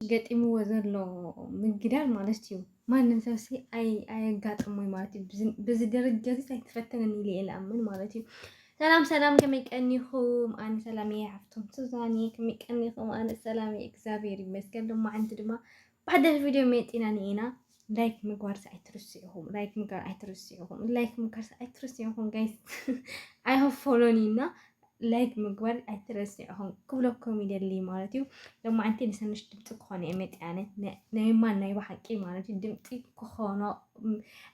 ገጢምዎ ዘሎ ምግዳል ማለት እዩ ማንም ሰብ ሲ ኣየጋጥሞይ ማለት እዩ በዚ ደረጃ እዚ ኣይትፈተንን ኢለ እየ ዝኣምን ማለት እዩ ሰላም ሰላም ከመይ ቀኒኹም ኣነ ሰላም እየ ሓፍቶም ሱዛን እየ ከመይ ቀኒኹም ኣነ ሰላም እየ እግዚኣብሔር ይመስገን ድማ ዓንቲ ድማ ብሓደሽ ቪድዮ መፂና ንኤና ላይክ ምግባርስ ኣይትርስዑኹም ላይክ ምግባር ኣይትርስዑኹም ላይክ ምግባርስ ኣይትርስዑኹም ጋይስ ኣይሆ ፎሎኒ እና ላይክ ምግባር ኣይትረስዑኹም ክብለኩም ይደሊ ማለት እዩ ሎማዓንቲ ንሰንሽ ድምፂ ክኾነ እየ መፅያነ ናይ ማን ናይ ባሓቂ ማለት እዩ ድምፂ ክኾኖ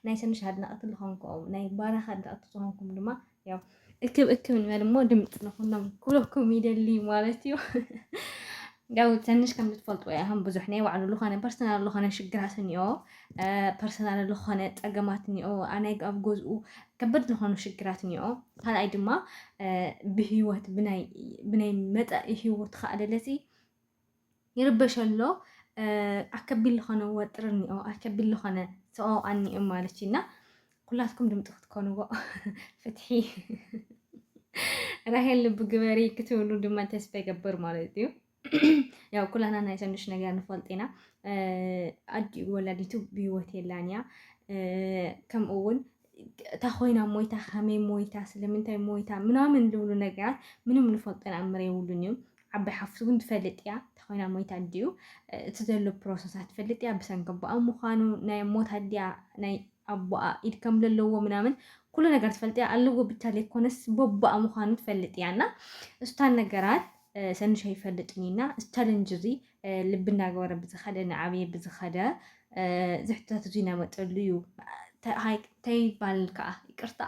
ናይ ሰንሽ ኣድናቕቲ ዝኾንኩም ናይ ባራኽ ኣድናቕቲ ዝኾንኩም ድማ ያው እክብ እክብ ንበል እሞ ድምፂ ንኹኖም ኩለኩም ይደሊ ማለት እዩ ያው ትንሽ ከም ዝትፈልጥዎ ያህም ብዙሕ ናይ ባዕሉ ዝኾነ ፐርሰናል ዝኾነ ሽግራት እኒኦ ፐርሰናል ዝኾነ ፀገማት እኒኦ ኣናይ ኣብ ገዝኡ ከበድ ዝኾኑ ሽግራት እኒኦ ካልኣይ ድማ ብሂወት ብናይ መፃኢ ሂወት ከኣለለሲ ይርበሽ ኣሎ ኣከቢል ዝኾነ ወጥር እኒኦ ኣከቢል ዝኾነ ሰኦ ኣኒኦ ማለት እና ኩላትኩም ድምፂ ክትኮንዎ ፍትሒ ራሄል ልቢ ግበሪ ክትብሉ ድማ ተስፋ ይገብር ማለት እዩ። ያው ኩላና ናይ ሰኑሽ ነገር ንፈልጥ ኢና። ኣዲኡ ወላዲቱ ብሂወት የላን እያ ከምኡ እውን እታ ኮይና ሞይታ ከመይ ሞይታ ስለምንታይ ሞይታ ምናምን ዝብሉ ነገራት ምንም ንፈልጦ ንኣምር የብሉን እዩ ዓባይ ሓፍቱ ግን ትፈልጥ እያ ተኾይና ሞይታ ኣዲኡ እቲ ዘሎ ፕሮሰሳ ትፈልጥ እያ ብሰንኪ ኣቦኣ ምዃኑ ናይ ሞት ኣዲኣ ናይ ኣቦኣ ኢድ ከም ዘለዎ ምናምን ኩሉ ነገር ትፈልጥ እያ ኣለዎ ብቻ ዘይኮነስ ቦቦኣ ምዃኑ ትፈልጥ እያ እና እስታን ነገራት ሰንሻ ይፈልጥን እና ቻለንጅ እዚ ልቢ እንዳገበረ ብዝኸደ እናዓበየ ብዝኸደ ዝሕተት እዙይ እናመፀሉ እዩ ተይባል ከዓ ይቅርታ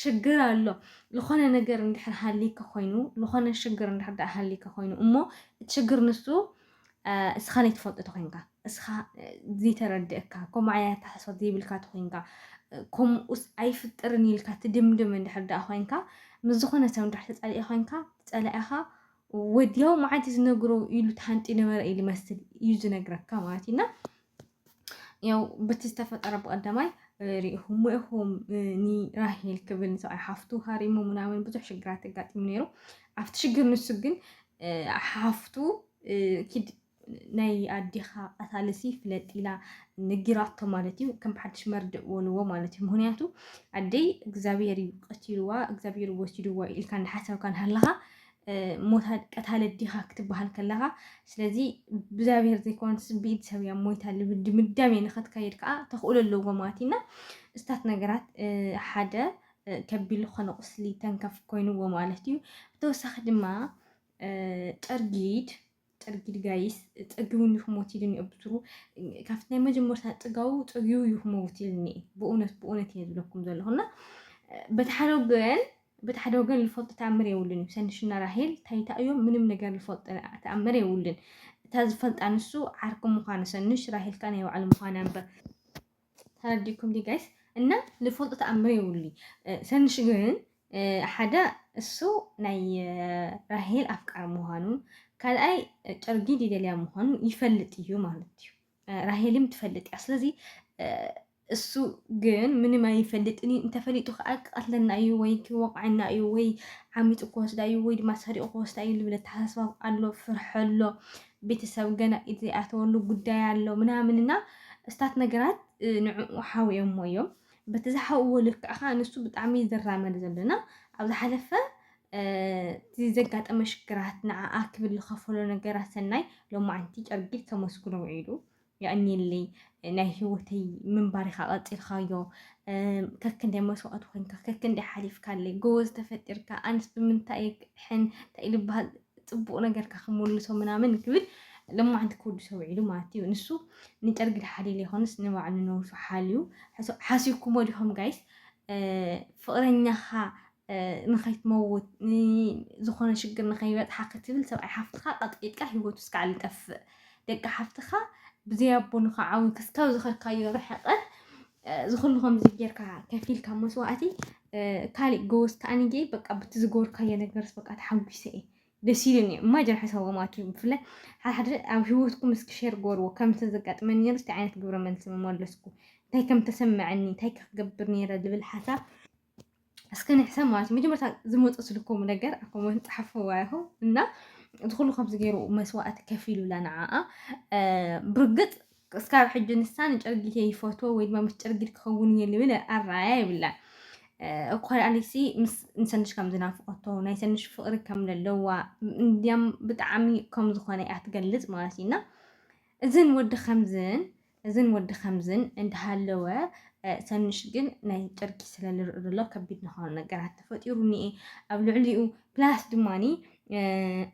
ሽግር ኣሎ ዝኾነ ነገር እንድሕር ሃሊከ ኮይኑ ዝኾነ ሽግር እንድሕር ዳኣ ሃሊከ ኮይኑ እሞ እቲ ሽግር ንሱ እስኻ ዘይትፈልጦ ተኮይንካ እስኻ ዘይተረድእካ ከምኡ ዓይነት ኣተሓሳስባ ዘይብልካ ተኮይንካ ከምኡስ ኣይፍጥርን ኢልካ ትድምድም እንድሕር ዳኣ ኮይንካ ምስ ዝኾነ ሰብ እንድሕር ተፃሊኢ ኮይንካ ፀላኢኻ ወዲያው መዓልቲ ዝነግሮ ኢሉ ተሃንጢ ነበረ እዩ ዝመስል እዩ ዝነግረካ ማለት እዩ እና ያው በቲ ዝተፈጠረ ብቀዳማይ ሪኢኹም ኢኹም ንራሄል ክብል ንሰብኣይ ሓፍቱ ሃሪሙ ምናምን ብዙሕ ሽግራት ኣጋጢሙ ነይሩ። ኣብቲ ሽግር ንሱ ግን ሓፍቱ ኪድ ናይ ኣዴኻ ቀታሊሲ ፍለጥ ኢላ ነጊራቶ ማለት እዩ። ከም ብሓድሽ መርድእ በልዎ ማለት እዩ። ምክንያቱ ኣደይ እግዚኣብሔር እዩ ቀቲልዋ እግዚኣብሔር ወሲድዋ ኢልካ እንዳሓሰብካ ሃለኻ ሞታ ቀታለ ዲኻ ክትበሃል ከለኻ ስለዚ ብእግዚኣብሔር ዘይኮነስ ብኢድ ሰብ እያ ሞይታ ልብል ድምዳሜ ንኸትከይድ ከዓ ተኽእሎ ኣለዎ ማለት እና እስታት ነገራት ሓደ ከቢድ ዝኾነ ቁስሊ ተንከፍ ኮይንዎ ማለት እዩ ብተወሳኺ ድማ ጨርጊድ ጠርጊድ ጋይስ ጸጊቡኒ ክሞት ኢሉኒ ኣብ ብትሩ ካብቲ ናይ መጀመርታ ጽጋቡ ጸጊቡ እዩ ክመውት ኢልኒ ብእውነት ብእውነት እየ ዝብለኩም ዘለኹ እና በቲ ሓደ ወገን በቲ ሓደ ወገን ልፈልጦ ተኣምር የብሉን እዩ ሰንሽና ራሄል ታይታ እዮም ምንም ነገር ልፈልጦ ተኣምር የብሉን እታ ዝፈልጣ ንሱ ዓርኪ ምዃኑ ሰንሽ ራሄልካ ናይ ባዕሉ ምዃና እምበር ተረዲእኩም ድዩ ጋይስ እና ልፈልጦ ተኣምር የብሉይ ሰንሽ ግን ሓደ እሱ ናይ ራሄል ኣፍቃሪ ምዃኑ ካልኣይ ጨርጊድ ይደልያ ምዃኑ ይፈልጥ እዩ ማለት እዩ ራሄልም ትፈልጥ እያ ስለዚ እሱ ግን ምንም ኣይፈልጥን እዩ እንተፈሊጡ ከዓ ክቐትለና እዩ ወይ ክወቕዐና እዩ ወይ ዓሚፁ ክወስዳ እዩ ወይ ድማ ሰሪቑ ክወስዳ እዩ ዝብል ኣተሓሳስባ ኣሎ ፍርሒ ኣሎ ቤተሰብ ገና ኢድ ዘይኣተወሉ ጉዳይ ኣሎ ምናምን እና እስታት ነገራት ንዕኡ ሓውዮሞ እዮም በቲ ዝሓውዎ ልክዕ ከዓ ንሱ ብጣዕሚ ዝራመድ ዘለና ኣብ ዝሓለፈ እቲ ዘጋጠመ ሽግራት ንዓኣ ክብል ዝኸፈሎ ነገራት ሰናይ ሎማዓንቲ ጨርጊድ ከመስግኖ ውዒሉ የቐንየለይ ናይ ሂወተይ ምንባር ኢኻ ቀጺልካዮ ከክንደይ መስዋእቲ ኮንካ ከክንደይ ሓሊፍካለይ ጎበዝ ተፈጢርካ ኣንስ ብምንታይ ሕን እንታይ ልበሃል ጽቡቕ ነገርካ ክምልሶ ምናምን ክብል ለማዓንቲ ክወዱ ሰውዒሉ ማለት እዩ ንሱ ንጨርጊ ሓሊሉ ይኾንስ ንባዕሉ ነብሱ ሓልዩ ሓሲብኩሞ ዲኹም ጋይስ ፍቕረኛኻ ንኸይትመውት ዝኾነ ሽግር ንኸይበፅሓ ክትብል ሰብኣይ ሓፍትኻ ቀጥቂጥካ ሂወቱ እስካዕ ዝጠፍእ ደቂ ሓፍትኻ ብዘይ ኣቦ ንኸዓው ክስካብ ዝኸድካዮ ርሕቐት ዝኹሉ ከምዚ ጌርካ ከፊልካ መስዋእቲ ካሊእ ጎወስ ከዓኒ ጌ በቃ ብቲ ዝገበርካዮ ነገርስ በቃ ተሓጒሰ እየ ደስ ኢሉኒ እዩ እማጅን ሓሳቦም ኣትዩ ብፍላይ ሓደ ሓደ ኣብ ሂወትኩም እስኪ ሸር ገበርዎ ከምቲ ዘጋጥመኒ ነይሩ እንታይ ዓይነት ግብረ መልሲ መመለስኩ እንታይ ከም ተሰመዐኒ እንታይ ክገብር ነይረ ዝብል ሓሳብ እስከ ንሕሰብ ማለት እዩ መጀመርታ ዝመፁ ስልኮም ነገር ኣብ ኮመንት ፀሓፍዋ ይኹ እና እቲ ኩሉ ከምዚ ገይሩ መስዋእቲ ከፊሉላ ንዓኣ ብርግፅ እስካብ ሕጂ ንሳ ንጨርጊት ይፈትዎ ወይ ድማ ምስ ጨርጊት ክኸውን እየ ልብል ኣረኣያ ይብላን እኳ ኣሊሲ ምስ ንሰንሽ ከም ዝናፍቀቶ ናይ ሰንሽ ፍቅሪ ከም ዘለዋ እንዲያም ብጣዕሚ ከም ዝኾነ እያ ትገልፅ ማለት እዩና እዝን ወዲ ከምዝን እዝን ወዲ ከምዝን እንዳሃለወ ሰኑሽ ግን ናይ ጨርቂ ስለ ዝርእ ዘሎ ከቢድ ዝኾኑ ነገራት ተፈጢሩ እኒኤ ኣብ ልዕሊኡ ፕላስ ድማኒ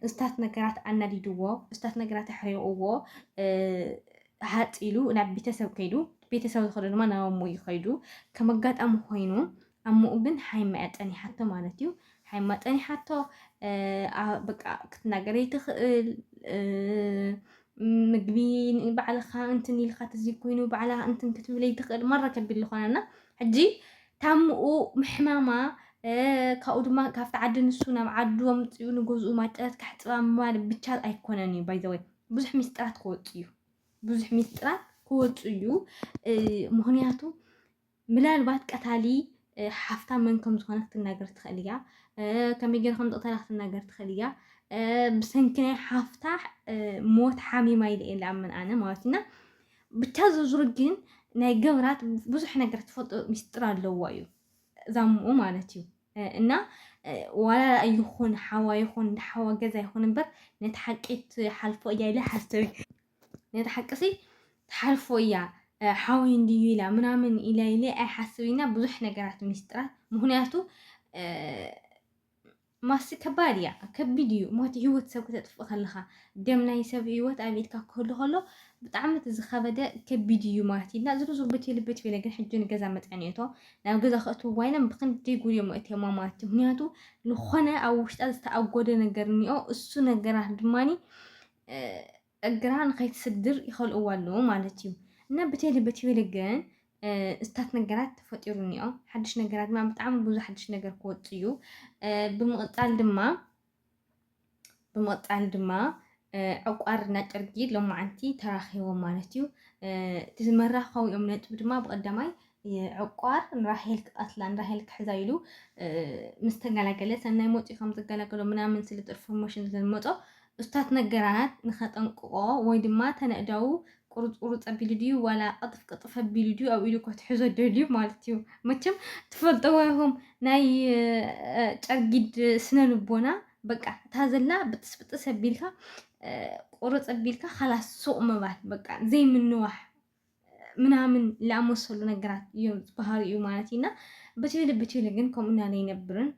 እስታት ነገራት ኣናዲድዎ እስታት ነገራት ኣሕሪቕዎ ሃፅ ኢሉ ናብ ቤተሰብ ከይዱ ቤተሰብ ዝኸዶ ድማ ናብ ኣሞ እዩ ከይዱ ከም ኣጋጣሚ ኮይኑ ኣሞኡ ግን ሓይማ'ያ ጠኒሓቶ ማለት'ዩ። ሓይማ ጠኒሓቶ በቃ ክትናገር ዘይትኽእል ምግቢ ባዕልኻ እንትን ኢልካ ተዘይ ኮይኑ ባዕላ እንትን ክትብል ዘይትኽእል ማራ ከቢድ ዝኾነና ሕጂ ታምኡ ምሕማማ ካብኡ ድማ ካብቲ ዓዲ ንሱ ናብ ዓዱ ኣምፅኡ ንገዝኡ ማጨረት ካሕፅባ ምባል ብቻ ኣይኮነን እዩ ባይዘወይ ብዙሕ ሚስጥራት ክወፅ እዩ ብዙሕ ሚስጥራት ክወፅ እዩ ምክንያቱ ምላልባት ቀታሊ ሓፍታ መን ከም ዝኾነ ክትናገር ትኽእል እያ። ከመይ ገይሩ ከም ዝቕተላ ክትናገር ትኽእል እያ። ብሰንኪ ናይ ሓፍታ ሞት ሓሚማ ኢለ እየ ዝኣምን ኣነ ማለት እና ብቻ ዝርዝሩ ግን ናይ ገብራት ብዙሕ ነገር ትፈልጦ ሚስጥር ኣለዎ እዩ ዛምኡ ማለት እዩ እና ዋላ ይኹን ሓዋ ይኹን ሓዋ ገዛ ይኹን እምበር ነቲ ሓቂ ትሓልፎ እያ ኢለ ሓሰብ ነታ ሓቅሲ ትሓልፎ እያ ሓወይ እንድዩ ኢላ ምናምን ኢለ ኢለ ኣይሓስብ ኢና ብዙሕ ነገራት ሚስጥራት ምክንያቱ ማሲ ከባድ እያ ከቢድ እዩ ሞት ህይወት ሰብ ክተጥፍእ ከለኻ ደም ናይ ሰብ ህይወት ኣብ ኢድካ ክህሉ ከሎ ብጣዕሚ እቲ ዝኸበደ ከቢድ እዩ ማለት እዩ እና ዝርዝር ብትብል ብትብል ግን ሕጂ ንገዛ መፅዕን እቶ ናብ ገዛ ክእትውዋ ኢና ብክንዲ ጉድዮም እትዮማ ማለት እዩ ምክንያቱ ዝኾነ ኣብ ውሽጣ ዝተኣጎደ ነገር እኒኦ እሱ ነገራት ድማኒ እግራ ንኸይትስግር ይኸልእዎ ኣለዉ ማለት እዩ እና ብቴሊ በቲቤለ ግን እስታት ነገራት ተፈጢሩ እኒኦ ሓድሽ ነገራት ድማ ብጣዕሚ ብዙ ሓድሽ ነገር ክወፅ እዩ ብምቕፃል ድማ ብምቕፃል ድማ ዕቋር እና ጨርጊ ሎማዓንቲ ተራኺቦም ማለት እዩ እቲ መራኸቢኦም ነጥቢ ድማ ብቐዳማይ ዕቋር ንራሄል ክቀትላ ንራሄል ክሕዛ ኢሉ ምስ ተገላገለ ሰናይ ሞጺኡ ከም ዝገላገሎ ምናምን ስለ ጥር ፎርሞሽን ስለ ዝመጾ እስታት ነገራት ንኸጠንቅቆ ወይ ድማ ተነእዳዉ ቁሩጽ ቁሩጽ ኣቢሉ ድዩ ዋላ ቅጥፍ ቅጥፍ ኣቢሉ ድዩ ኣብ ኢዱ ከትሕዞ ደልዩ ማለት እዩ መቸም ትፈልጠዎ ኢኹም ናይ ጨርጊድ ስነ ልቦና በቃ እታ ዘላ ብጥስ ብጥስ ኣቢልካ ቁሩጽ ኣቢልካ ኻላስ ሱቕ ምባል በቃ ዘይምንዋሕ ምናምን ላኣመሰሉ ነገራት እዮም ዝበሃሉ እዩ ማለት እዩ እና ብትዩሊ ብትዩሊ ግን ከምኡ ናለ ይነብርን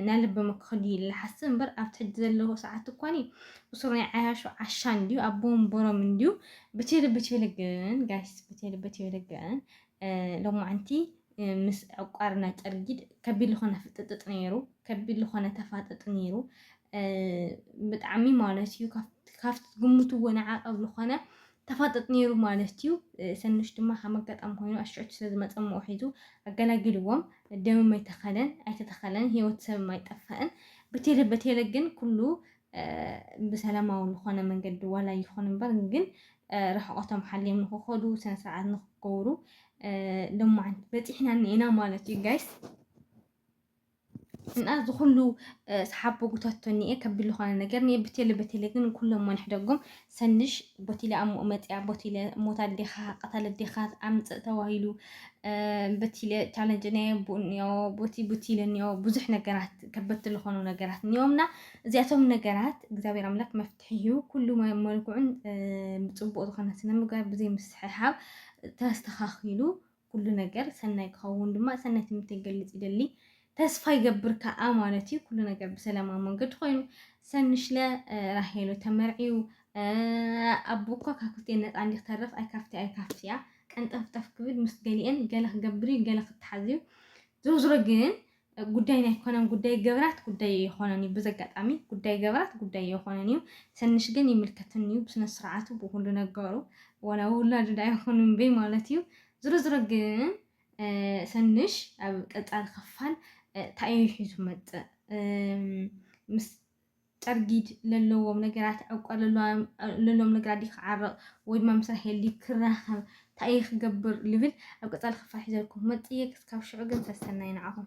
ናለ ብምክክል እዩ ልሓስብ እምበር ኣብቲ ሕጂ ዘለዎ ሰዓት እኳኒ እሱር ናይ ዓያሹ ዓሻ እንዲዩ ኣቦ ወንበሮም እንዲዩ ብትዩሊ ብትዩሊ ግን ጋይስ ብትዩሊ ብትዩሊ ግን ሎማዓንቲ ምስ ዕቋርና ጨርጊድ ከቢድ ልኾነ ፍጥጥጥ ነይሩ ከቢድ ልኾነ ተፋጥጥ ነይሩ ብጣዕሚ ማለት እዩ ካብቲ ግምትዎ ንዓቐብ ልኾነ ተፋጠጥ ነይሩ ማለት እዩ። ሰኑሽ ድማ ከም ኣጋጣሚ ኮይኑ ኣሽዑቲ ስለ ዝመጸ እሞ ሒዙ ኣገላጊልዎም። ደምም ኣይተኸለን ኣይተተኸለን ህይወት ሰብም ኣይጠፈእን። በቴለ በቴለ ግን ኩሉ ብሰላማዊ ዝኾነ መንገዲ ዋላ ይኹን እምበር ግን ርሕቐቶም ሓልዮም ንክኸዱ ስነ ስርዓት ንክገብሩ ሎማዓንቲ በፂሕና እኒኤና ማለት እዩ ጋይስ። እና እዚ ኩሉ ሰሓብ ቦጉታቶ እኒኤ ከቢድ ዝኾነ ነገር እኒኤ ብቴለ በቴለ ግን ኩሎም ወንሕደጉም ሰንሽ ቦቲለ ኣሞ መፅያ ቦቲለ ሞት ኣዴኻ ቀታል ኣዴኻ ኣምፅእ ተባሂሉ በቲለ ቻለንጅ ናይ ኣቦ እኒኦ ቦቲ ቦቲለ እኒኦ ብዙሕ ነገራት ከበድቲ ዝኾኑ ነገራት እኒኦምና እዚኣቶም ነገራት እግዚኣብሔር ኣምላክ መፍትሒ እዩ ኩሉ መልክዑን ብፅቡቅ ዝኾነ ስነ ምግባር ብዘይ ምስሕሓብ ተስተኻኺሉ ኩሉ ነገር ሰናይ ክኸውን ድማ ሰናይ ትምኒተይ ክገልጽ ይደሊ። ተስፋ ይገብር ከኣ ማለት እዩ ኩሉ ነገር ብሰላማዊ መንገዲ ኮይኑ ሰንሽለ ራሄሉ ተመርዕዩ ኣቦ እኳ ካብ ክልቲኤን ነፃ እንዲ ክተርፍ ኣይካፍቲ ኣይካፍቲ እያ ቀንጠፍጠፍ ክብል ምስ ገሊኤን ገለ ክገብር እዩ ገለ ክተሓዝ እዩ ዝሮ ዝሮ ግን ጉዳይና ኣይኮነን ጉዳይ ገብራት ጉዳይ ኣይኾነን እዩ ብዘጋጣሚ ጉዳይ ገብራት ጉዳይ ኣይኾነን እዩ ሰንሽ ግን ይምልከትን እዩ ብስነ ስርዓቱ ብኩሉ ነገሩ ወላ ውላዱ ዳ ይኹን እምበይ ማለት እዩ ዝሮ ዝሮ ግን ሰንሽ ኣብ ቀጻሊ ክፋል እንታይ እዩ ሒዙ መጽእ ምስ ጨርጊድ ለለዎም ነገራት ዕቋ ለለዎም ነገራት ዲ ክዓረቕ ወይ ድማ ምስ ራሄል ዲ ክራኸብ እንታይ እዩ ክገብር ልብል ኣብ ቀጻሊ ክፋል ሒዘልኩም መጽእ እየ ክስካብ ሽዑ ግን ሰሰናይ ንዓኹም